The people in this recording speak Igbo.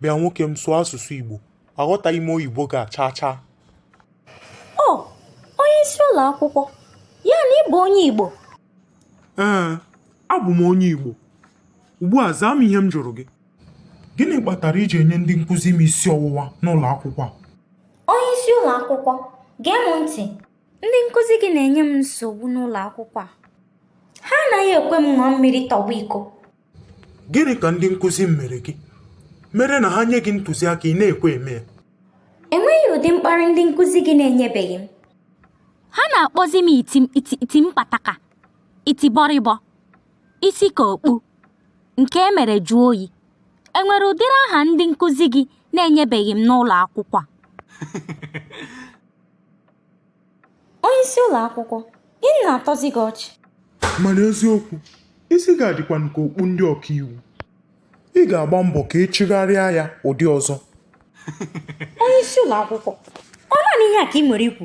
bịa nwoke m sụọ asụsụ Igbo aghọtaghị m oyibo gị a chaa chaa ọ onye isi ụlọ akwụkwọ ya na ị bụ onye Igbo ee abụ m onye Igbo ugbu a zaa m ihe m jụrụ gị gịnị kpatara i ji enye ndị nkụzi m isi ọwụwa n'ụlọ akwụkwọ a onye isi ụlọ akwụkwọ gee m ntị ndị nkụzi gị na-enye m nsogbu n'ụlọ akwụkwọ a ha anaghị ekwe m ṅụọ mmiri tọgbọ iko Gịnị ka ndị nkụzi m mere gị? Mere na ha nye gị ntụziaka ị na-ekwe eme ya. Enweghị ụdị mkparị ndị nkụzi gị na-enyebeghị m. Ha na-akpọzi m iti iti mpataka, iti bọrịbọ, isi ka okpu, nke e mere jụọ oyi. E nwere ụdịrị aha ndị nkụzi gị na-enyebeghị m n'ụlọ akwụkwọ a? onye isi ụlọ akwụkwọ gịnị na-atọzi gị ọchị mana eziokwu isi gị a dịkwanụ ka okpu ndị ọkaiwu ị ga-agba mbọ ka ị chịgharịa ya ụdị ọzọ onye isi ụlọ akwụkwọ ọ naanị ihe a ka i nwere ikwu